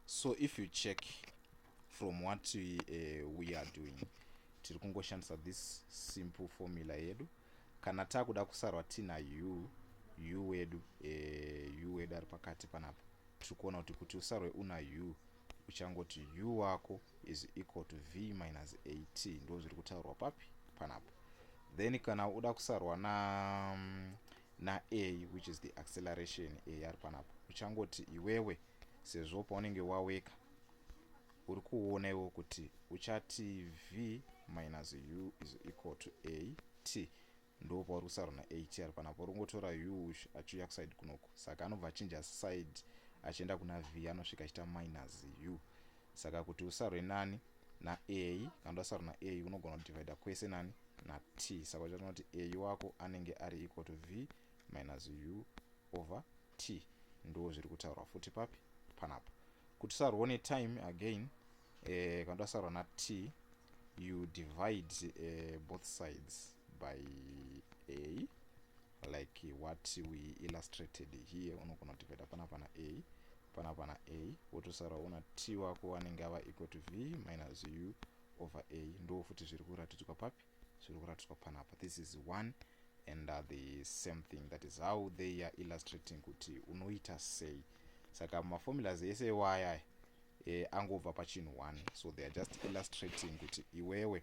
so if you check from what we, uh, we are doing tiri kungoshandisa this simple formula yedu kana takuda kusarwa tina u u wedu uh, u wedu ari pakati panapa tiri kuona kuti kuti usarwe una u uchangoti u wako is equal to v minus 8 ndo zviri kutaurwa papi panapa then kana uda kusarwa na um, na a which is the acceleration a yari panapa uchangoti iwewe sezvo paunenge waweka uri kuona iwo kuti uchati v minus u is equal to a t ndo pauri kusarona a t ari panapa uri kungotora u achiuya kuside kunoko saka anobva achinja side achienda kuna v anosvika achiita minus u saka kuti usarwe nani na a kana tasara na a unogona kudivida kwese nani na t saka uchaita kuti a wako anenge ari equal to v minus u over t ndo zviri kutaurwa futi papi panapa kuti sarwo ne time again eh, kana tasarwa na t you divide eh, both sides by a like what we illustrated here unogona kutivaida pana pana a pana pana a wotosara una t wako wanenge ava equal to v minus u over a ndo futi zviri kuratidzwa papi zviri kuratidzwa panapa this is one and uh, the same thing that is how they are illustrating kuti unoita sei saka maformulas ese iwaya eh, angobva pachinhu one so they are just illustrating kuti iwewe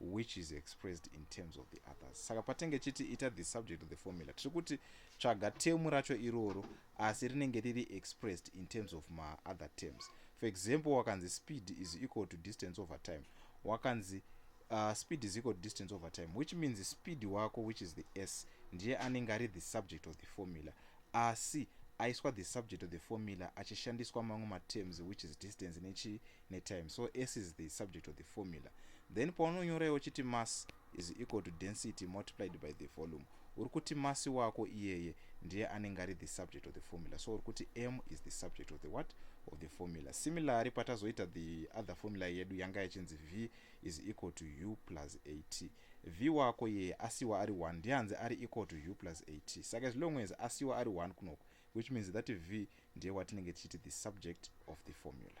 which is expressed in terms of the others saka patenge chiti ita the subject of the formula tiri kuti tsvaga temu racho iroro asi rinenge riri expressed in terms of maother terms for example wakanzi speed is equal to distance over time wakanzi uh, speed is equal to distance over time which means speed wako which is the s ndiye anenge ari the subject of the formula asi aiswa the subject of the formula achishandiswa mamwe materms which is distance nechii netime so s is the subject of the formula then paunonyora iwe uchiti mass is equal to density multiplied by the volume uri kuti masi wako iyeye ndiye anenge ari the subject of the formula so uri kuti m is the subject of the what of the formula similarly patazoita the other formula yedu yanga yachinzi v is equal to u plus at v wako iyeye asiwa ari 1 ndiye hanzi ari equal to u plus at saka as long as asiwa ari 1 kunoko which means that v ndiye watinenge tichiti the subject of the formula